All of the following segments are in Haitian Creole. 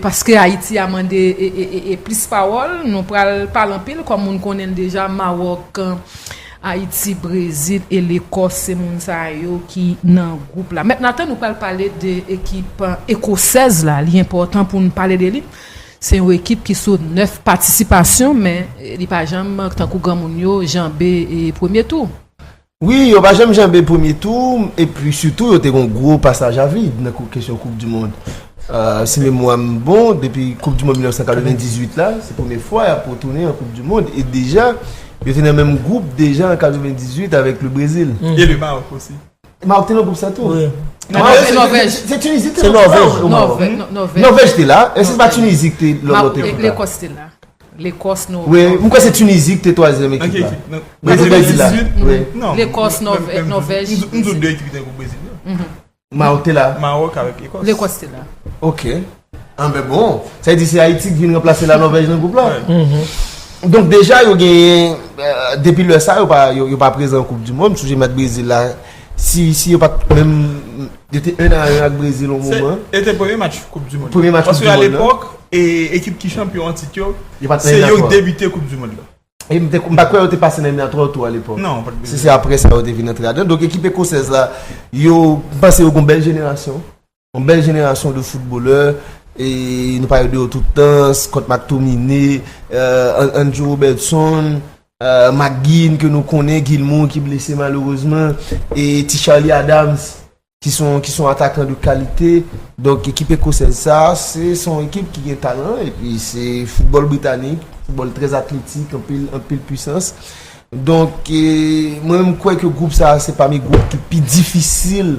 Paske Ayiti a mande plis pawòl, nou pral pale anpil kòm moun konnen l deja, Mawòk, Ayiti, Brezil e Lekòs se moun sa yo ki nan gwoup la. Mèt Nathan nou pral pale de ekip ekosèz la, li enpòtan pou n pale de li. Se yon ekip ki sou 9 patisipasyon men li pa janm tankou granmoun yo janbe premye tou. Wi, yo pa janm janbe premye tou epi sitou yo te gon gwo pasaj a vid nan kesyon koup di mond. Si memwa m bon depi koup di mond 1998 la se premye fwa y ap retounen an koup di mond e deja yo te nan menm gwoup deja an 98 avèk le Brezil. E le Mawòk osi. Mawòk te nan gwoup sa tou? Nòvèj. Se Tinizi te nan gwoup sa? Nòvèj. Nòvèj te la. Èske se pa Tinizi ki te lòt lòt ekip la? Lekòs te la. Lekòs, Nòvèj. M kwè se Tunizi ki te twazyèm ekip la. Brezil pèdi la. Lekòs, Nòvèj. M di w 2 ekip ki te nan Brezil yo. Mawòk te la. Mawòk avèk Lekòs. Lekòs te la. Ok. Anben bon. Sa vle di se Ayiti ki vin ranplase la Nòvèj nan gwoup la. Donk deja yo genyen depi lè sa yo pa prezan nan koup di mond. M sonje mèt Brezil la. Si yo pat menm, yo te 1 a 1 ak Brezil yon moman. E te premye match koup du mond. Premye match koup du mond. Paske a lepòk, ekip ki chanpyon an tit yo, se yo ki debite koup du mond la. E m pa kwè yo te pase nan eliminatwa yo tou a lepòk. Non, pat bliye. Se apre sa yo te vin antre ladan. Donk ekip ekosèz la, yo panse yo gon bèl jenerasyon. Yon bèl jenerasyon de foutbolè, nou pale de yo tout tan, Scott McTominay, Andrew Robertson, McGinn ke nou konnen, Gilmour ki blese malerezman, e ti Charlie Adams ki son atakan de kalite. Donk ekip ekosèz sa, se son ekip ki gen talan, e pi se foutbòl britanik, foutbòl trè atletik, anpil pwisans. Donk mwen kwè ke gwoup sa se pami gwoup ki pi difisil.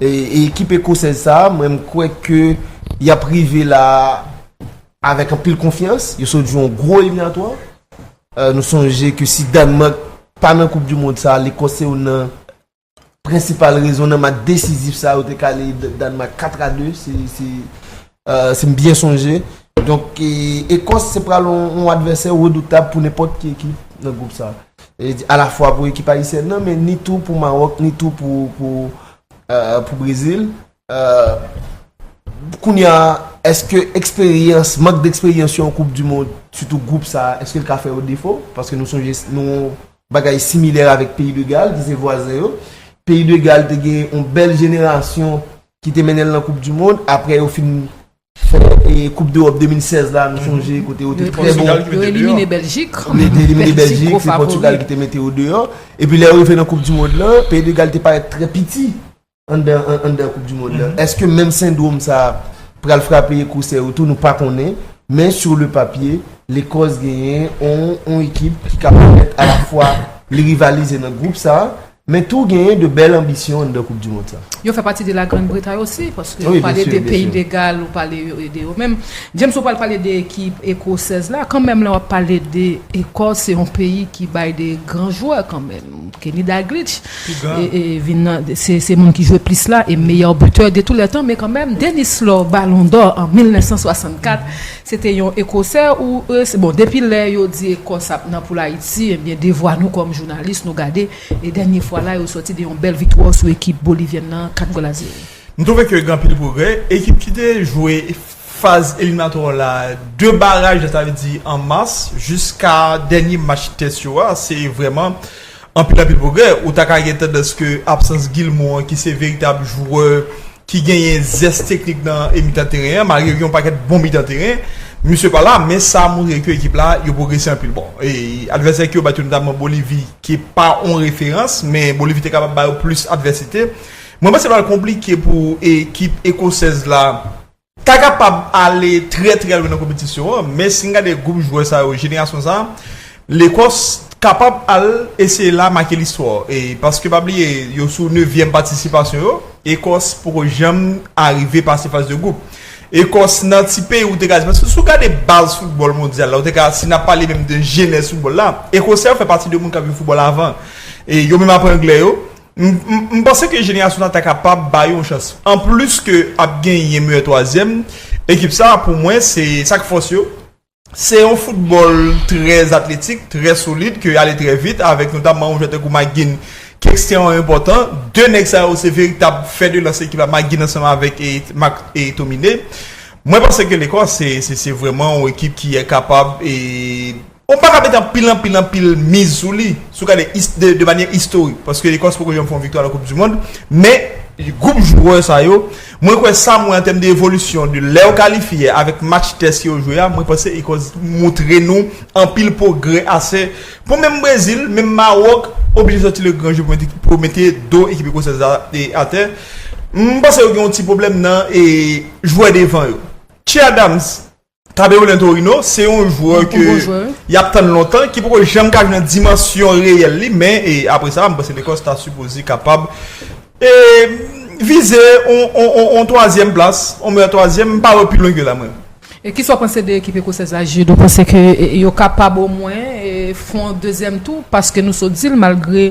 Ekip ekosèz sa a, mwen kwè ke y ap rive la a avèk anpil konfyans. Yo sot jwe yon gwo eliminatwa. Nou sonje ke si Dànmak pa nan koup di mond sa a, Lekòs se youn nan prensipal rezon nan match desizif sa a yo te kale Dànmak 4 a 2. Si m byen sonje. Donk Ekòs se pral yon advèsè redoutab pou nenpòt ki ekip nan gwoup sa. A la fwa pou ekip ayisyèn nan men ni tou pou Mawòk ni tou pou Brezil. Kounye a, èske eksperyans, mank de eksperyans yon koup di mond, sitou gwoup sa, èske l ka fè yo defo? Paske nou sonje yon bagay similè avèk peyi de Gal ki se vwazen yo. Peyi de Gal te gen yon bèl jenerasyon Ki te mennen l nan koup du mond, aprè yo fin fè koup d'Europe 2016 la nou sonje kote yo te trè bon. Yo elimine Beljik. Yo te elimine Beljik, se Pòtugal ki te mete yo deyò. E pi lè yo rive nan koup du mond lan, peyi de Gal te parèt trè piti anndan koup du mond lan. Eske menm sendrom sa pral frape Ekosè yo tou nou pa konnen. Men sur le papye, Lekòs genyen yon ekip ki ka pèmèt a la fwa li rivalize nan group sa. Men tou genyen de bèl anbisyon anndan koup du mond sa. Yo fè pati de la Grande Bretagne osi paske ou pale de peyi de Gal ou pale de yo menm. James ou pral pale de ekip ekosèz la kanmenm lè wap pale de ekòs se yon peyi ki bay de gran jwè kanmenm. Kenny Daglitch vin nan se moun ki jwe plis la e meyè butè de tou lè tan men kanmenm Denis Law balon dò an 1964 Se te yon Ekosè ou e se bon depi lè yo di Ekòs ap nan poul Ayiti ebyen devwa nou kòm jounalis nou gade e dènye fwa la yo sòti de yon bèl viktwa sou ekip bolivyèn nan 4 gòl a 0. M twouve ke gen anpil pwogrè. Ekip ki te jwe faz eliminatwa la 2 baraj la sa vle di an mas jiska dènye match tès yo a se vrèman anpil anpil pwogrè ou ta ka gen tandans ke absans Guilmot an ki se veritab jwè ki genyen zès teknik nan e mitan teren an malgre gen yon pakèt bon mitan teren misye pa la men sa montre ke ekip la yo pwogrese anpil bon e advèsè ke yo bat yo notamman Bolivi ki pa yon referans men Bolivi te kapab ba yo plis advèsite mwen panse pral konplike pou ekip ekosèz la ta kapab ale trè trè lwen nan konpetisyon an men si n gade gwoup jwè sa yo jenerasyon sa. Lekòs kapab al eseye la make listwa e paske pa bliye yo sou nevyèm patisipasyon yo Ekòs poko janm arive pase faz de gwoup Ekòs nan ti peyi ou te ka di paske si w gade baz foutbòl mondyal la ou te ka si n ap pale menm de jenèz foutbòl la Ekosè yo fè pati de moun k ap jwe foutbòl avan e yo menm apre anglè yo m m panse ke jenerasyon sa ta kapab ba yo yon chans anplis ke ap genyen meyè twazyèm ekip sa pou mwen se sa k fòs yo Se yon foutbòl trè atletik, trè solid, ke ale trè vit, avèk notamman yon jwè tankou McGinn ki ekstrèman enpòtan. 2 nèg sa yo se veritab fè de lans ekip la, McGinn ansanm avèk McTominay. Mwen panse ke Lekòs se vrèman yon ekip ki kapab e ou pa ka mete anpil, anpil, anpil miz sou li, si w gade de manyè istorik, paske Lekòs poko janm fè yon viktwa nan Koupdimond, men gwoup jwè sa yo. Mwen kwè sa m wè an tèm de evolisyon de lèw kalifye avèk match tès yo jwe a mwen panse Ecosse moutre nou anpil pwogrè ase pou menm Brezil menm Mawòk oblije sòti le gran jeu pou mete do ekip Ekosèz la atè m panse yo gen yon ti pwoblèm nan jwè devan yo Che Adams Tabeulin Torino se yon jwè ke y ap tann lontan, ki poko janm ka jwenn dimansyon reyèl li, men apre sa m panse Lekòs ta sipoze kapab vize yon twazyèm plas, yon meyè twazyèm, m pa wè pi lwen ke la mwen. E kisa w panse de ekip ekosèz la Jude? Ou panse ke yo kapab omwen fè yon dezyèm tou? Paske nou sot di l malgre.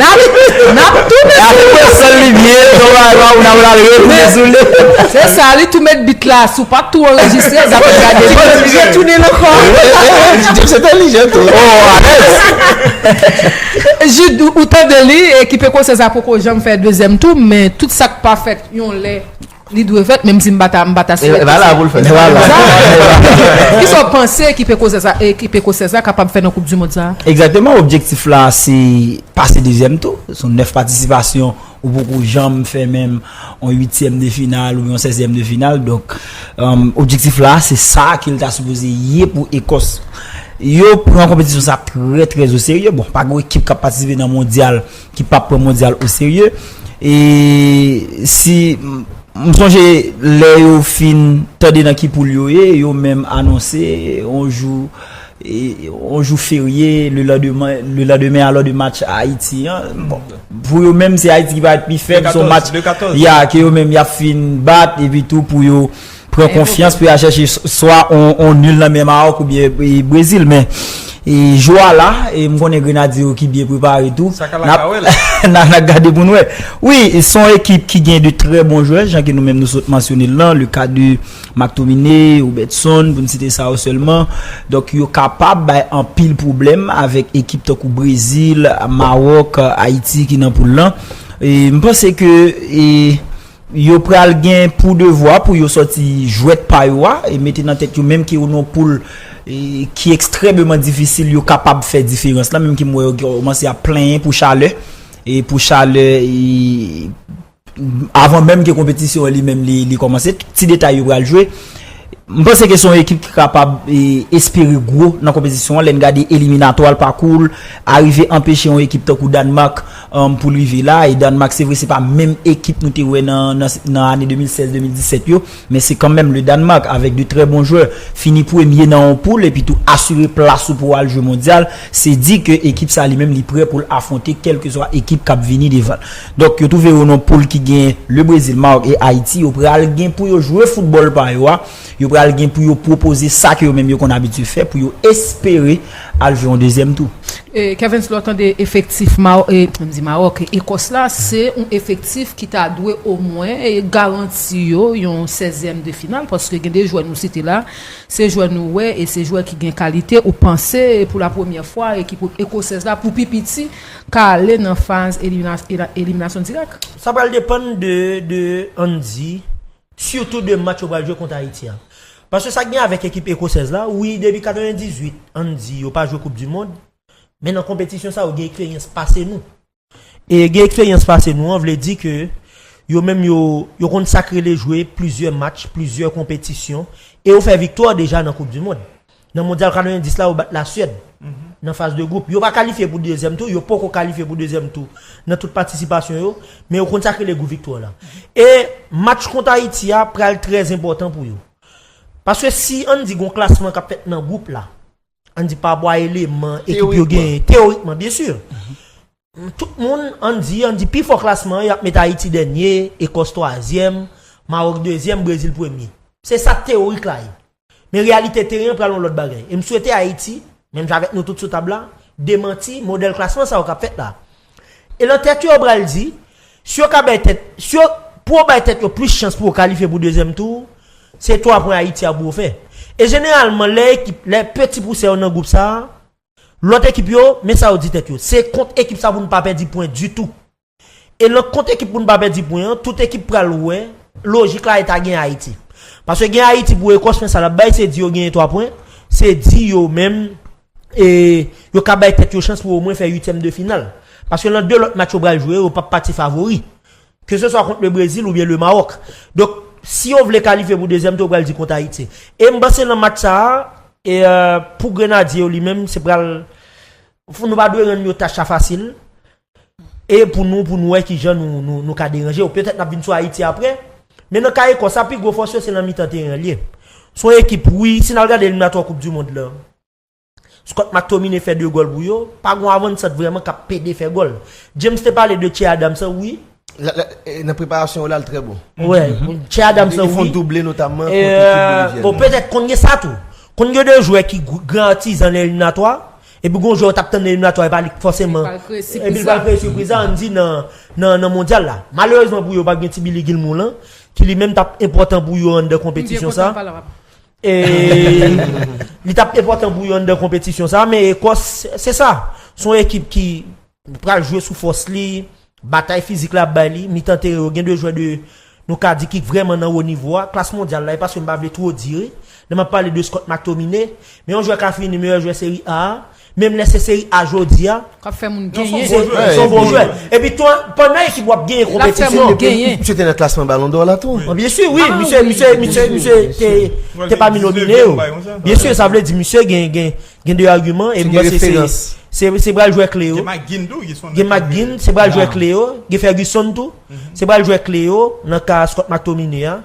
Nap tounen sou li. Aprè sèl li vye don Rara ou nan pral retounen sou li. Se sa li tou met bit la sou pat tou anrejistre zap ap gade bit. Li vye tounen l ankò. Jeps entèlijan tou. Oh alèz. Jude ou tande li ekipe konsyans la poko janm fè dezyèm tou men tout sak pa fèt yon lè. Li dwe fèt menm si m pa ta m pa ta swete sa. Epa la pou l fèt. Zara, kisa w panse ekip ekosè sa ekip ekosèz la kapab fè nan koup dimond sa a? Egzakteman, objektif la se pase dezyèm tou. Son 9 patisipasyon, ou poko janm fè menm yon uityèm de final ou yon sèzyèm de final. Donk, objektif la se sa ke l ta sipoze ye pou Ekòs. Yo pran konpetisyon sa trè trè o serye. Bon, pa gen yon ekip k ap patisipe nan mondyal. ki pap pran mondyal o serye e si m sonje lè yo fin tande nan ki poul yo ye yo menm anonse on jou on jou ferye le landeman le landemen alò de match ayiti an bon pou yo menm se ayiti ki paret pi fèb son match ya ke yo menm yap fin bat epi tou pou yo Pran konfyans pou ya chèche swa on nul nan men Maroc ou byen Brésil men jou a la e m konnen Grenadye yo ki byen prepare tou n ap gade pou n wè wi s on ekip ki gen de trè bon jwè jan ke nou menm nou sot mansyone l lan le ka de Mactominé Robertson pou n site sa yo sèlman donk yo kapab bay anpil pwoblèm avèk ekip tankou Brésil Maroc Ayiti ki nan poul lan m panse ke Yo pral gen pou devwa pou yo sòti jwèt pa yo a e mete nan tèt yo menm ke yo nan yon poul ki ekstrèmeman difisil yo kapab fè diferans la menm ke m wè yo kòmanse ap plenyen pou chalè e pou chalè avan menm ke konpetisyon an li menm li kòmanse ti detay yo pral jwe. M panse ke se yon ekip ki kapab espere gwo nan konpetisyon an lè n gade eliminatwa l, pakou l, arive anpeche yon ekip tankou Dànmak pou l rive la. E Dànmak se vre se pa menm ekip nou te wè nan ane 2016, 2017 yo, men se kanmenm le Dànmak avèk de trè bon jwè. Fini premye nan yon poul epitou asire plas ou pou w al jwe mondyal, se di ke ekip sa li menm li prè pou l afwonte kèlkeswa ekip k ap vini devan l. Donk yo twouve yo nan poul ki gen Le Brezil, Mawòk e Ayiti. Yo pral gen pou yo jwe foutbòl pa yo a. Yo pral gen pou yo pwopoze sa ke yo menm yo konn abitye fè pou yo espere al jwe yon dezyèm tou. Kervens, lè w tande efektif Mawòk e Ekòs la, se yon efektif ki ta dwe omwen garanti yo yon sèzyèm de final paske gen de jwè nou site la, se jwè nou wè e se jwè ki gen kalite ou panse pou lapremyè fwa ekip Ekosèz la pou pi piti ka ale nan faz eliminasyon dirèk. Sa pral depann de de Andy, sitou de match yo pral jwe kont Ayiti a. Paske sa gen avèk ekip ekosèz la, wi depi 98 Andy yo pa jwe koup di mond, men nan konpetisyon sa yo gen eksperyans pase nou. E gen eksperyans pase nou an vle di ke yo menm yo yo konn sa k rele jwe plizyè match, plizyè konpetisyon e yo fè viktwa deja nan koup di mond. Nan Mondyal 90 la yo bat La Suèd nan faz de gwoup. Yo pa kalifye pou dezyèm tou, yo poko kalifye pou dezyèm tou nan tout patisipasyon yo, men yo konn sa ki rele gou viktwa la. E match kont Ayiti a pral trè enpòtan pou yo. Paske si ann di gon klasman kap fèt nan gwoup la, ann di pa bwa eleman ekip yo genyen, teyorikman byen sur, Tout moun, an n di, an n di pi fò klasman an y ap met Ayiti dènye, Ekòs twazyèm, Mawòk dezyèm, Brezil premye. Se sa teyorik la ye. Men reyalite teren an pral yon lòt bagay. E m swete Ayiti, menm jan avèk nou tout sou tab la, demanti modèl klasman sa yo k ap fèt la a. E nan tèt yo yo pral di, si yo ka bay tèt, si yo, pou yo bay tèt yo plis chans pou yo kalifye pou dezyèm tou, se twa pwen Ayiti a pou yo fè. E jeneralman lè ekip, lè peti pousè yo nan gwoup sa a, Lòt ekip yo, men sa yo di tèt yo, Se kont ekip sa pou nou pa pèdi pwen ditou. E nan kont ekip pou nou pa pèdi pwen an, tout ekip pral wè lojik la e ta gen Ayiti. Paske gen Ayiti pou Ekòs, men sa l ap bay se di yo genyen 3 pwen, se di yo menm e yo ka bay tèt yo chans pou omwen fè uityèm de final. Paske nan 2 lòt match yo pral jwe yo, yo p ap pati favori. Ke se swa kont le Brezil oubyen le Mawòk. Donk, si yo vle kalifye pou dezyèm tou yo pral di kont Ayiti. E m panse nan match sa a, pou Grenadye yo li menm, se pral, nou pa dwe rann yo tach la fasil. E pou nou, pou nou wè ki jan nou ka deranje yo. Petèt n ap vin sou Ayiti apre. Men nan ka Ekòs la, pi gwo fòs yo se nan mitan teren an l ye. Se yon ekip, wi, si n al gade eliminatwa koup dimond lan. Scott McTominay fè 2 gòl pou yo, pa gon avansant vrèman kap pede fè gòl. James te pale de Che Adams an wi. Nan preparasyon yo la l trè bon. Wè, Che Adams an wi. Li fon double notamman kont ekip Bolivyèn nan. Petèt konn gen sa tou. Konn gen 2 jwè ki gran atizan nan eliminatwa, epi gon jwè ou tap tann nan eliminatwa e pa li k fòseman, epi l pral kreye sipriz la ann di nan mondyal la. Malerezman pou yo pa gen ti Billy Gilmour lan, ki li menm tap enpòtan pou yo anndan konpetisyon sa. E li tap enpòtan pou yon nan konpetisyon sa, men Ekòs se sa, se yon ekip ki pral jwe sou fòs li, batay fizik la ap bay li, mitan teren yo gen 2 jwè de nou ka di ki vrèman nan wo nivo a, klas mondyal la, e paske m pa vle two di, lè m ap pale de Scott McTominay, men yon jwè ka fini meyè jwè Serie A a. Menm lè se seri A jodi a. K ap fè moun genyen. Se yon bon jwè. Epi tou, pandan ekip ou ap genyen konpetisyon. Misye te nan klasman balon dò la tou. Byen si wi. Misye te pami nomine yo. Byen si sa vle di misye gen de agiman. Gen referans. Se pral jwè kle yo. Gen McGinn tou. Gen McGinn. Se pral jwè kle yo. Gen Ferguson tou. Se pral jwè kle yo nan ka Scott McTominay a.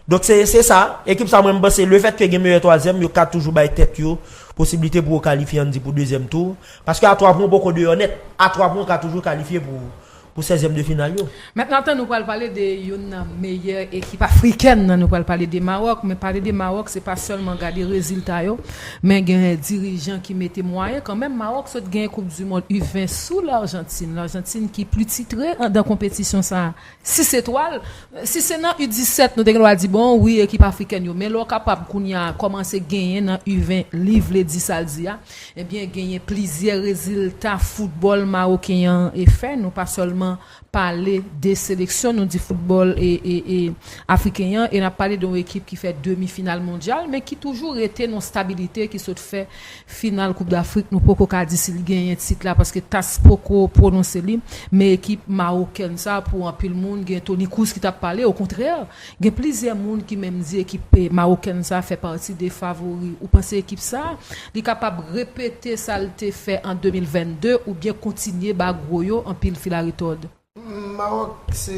Donk se se sa, ekip sa mwen m panse le fèt ke gen meyè twazyèm yo ka toujou bay tèt yo posibilite pou yo kalifye ann di pou dezyèm tou, paske a twa pwen w poko deyò nèt, a twa pwen w ka toujou kalifye pou pou sèzyèm de final yo. Mentnan tan nou pral pale de youn nan meyè ekip afrikèn nan nou pral pale de Mawòk, men pale de Mawòk se pa sèlman gade rezilta yo, men gen dirijan ki mete mwayen kanmenm, Mawòk sot genyen koup du mond U 20 sou Larjantin, Larjantin ki pli titre andan konpetisyon sa 6 etwal, si se nan U 17 nou te gen dwa di bon wi ekip afrikèn yo men lè w kapab kounya kòmanse genyen nan U 20 li vle di sa l di a ebyen genyen plizyè rezilta foutbòl maroken an fè nou pa sèlman pale de seleksyon nou di foutbòl afriken an e n ap pale de yon ekip ki fè demi final mondyal men ki toujou rete nan yon stabilite ki sot fè Final koup dafrik nou poko ka di si li genyen tit la paske tas poko pwononse li men ekip mawokèn sa pou anpil moun gen Toni Kroos ki tap pale okontrè gen plizyè moun ki menm di ekip mawokèn sa fè pati de favori ou panse ekip sa li kapab repete sal te fè an 2022 oubyen kontinye ba gwo yo anpil filaretòd. Mawòk se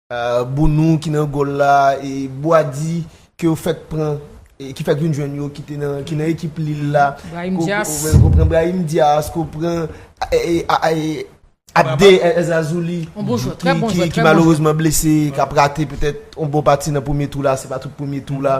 Bounou ki nan gòl la, Boady ke yo fèk pran, ki fèk vin jwenn yo, ki nan ekip Lille la. Brahim Diaz. Ou pran Brahim Diaz, ou pran Abde El Zazouli. On bon jwè, trè bon jwè, trè bon jwè. Ki malerezman blese, kap rate petèt on bon pati nan premye tou la, se pa tout premye tou la.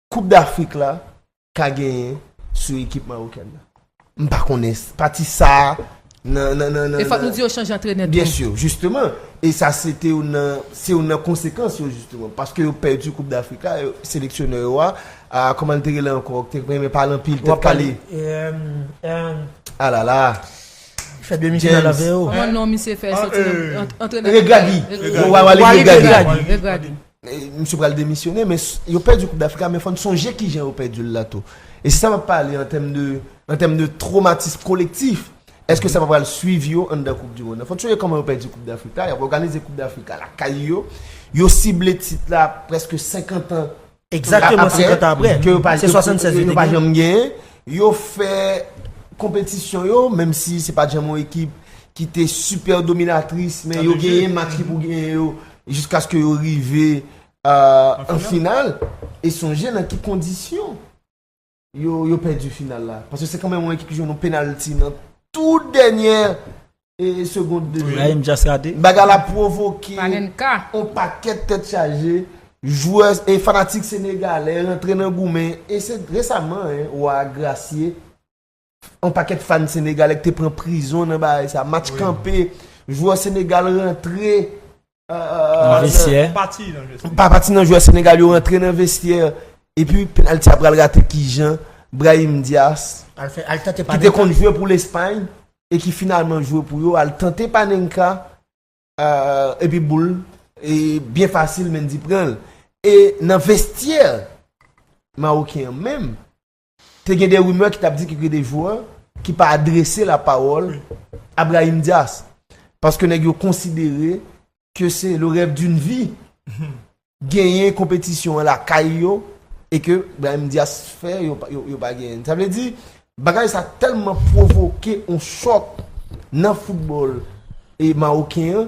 Koup dAfrik la ka genyen sou ekip Mawokèn nan. M pa konnen pati sa a nan, nan, nan, nan. E fòk nou di yo chanje antrenè tou. Byen sûr, jisteman. E sa se te youn nan, se youn nan konsekans yo jisteman. Paske yo pèdi koup dAfrik la, seleksyonè yo a, a kòman l te rele ankò, k te renmen pale anpil, tèt kale. Alala. Li fè demi final avè yo. Kòman non misye fè soti nan, antrenè. Regragui. Regragui. Waly Regragui. Regragui. Misye pral demisyone men yo pèdi koup dafrik la men fòn sonje kijan yo pèdi l la tou e si sa map pale an tèm de an tèm de tromatism kolektif èske sa pa pral swiv yo anndan koup di mond lan fòn sonje kòman yo pèdi koup dafrik la yap òganize koup dafrik la lakay yo yo sible tit la prèske 50 an Egzakteman 50 an aprè se 76 yo te genyen yo fè konpetisyon yo menm si se pat janm yon ekip ki te sipè dominatris men yo genyen match ki pou genyen yo. jiskaske yo rive an final e sonje nan ki kondisyon yo pèdi final la paske se kanmen yon ekip ki jwen yon penalti nan tou dènyè e segond de jwè baga la provoke yon pakèt tèt chaje jwè e fanatik senegalè rentre nan goumen e se resaman wè a grasye On pakèt fan Senegalè ki te pran prizon nan bagay sa. Match kanpe, jwè Senegal rantre. Nan vestyè. Pa pati nan jwè Senegal yo rantre nan vestyè. E pi penalty a pral rate ki jan. Brahim Dias. Ki te konn jwè pou Lespany. E ki finalman jwè pou yo. Al tante Panenka. E pi boul. E byen fasil Mendy pran. E nan vestyè. Maroken an menm. Te gen de rimè ki t ap di ke gen de jwè ki pa adrese lapawòl a Brahim Diaz paske nèg yo konsidere ke se le rèv dun vi genyen konpetisyon an lakay yo e ke Brahim Diaz fè yo pa genyen. Sa vle di bagay sa tèlman pwovoke yon chòk nan foutbòl mawoken an.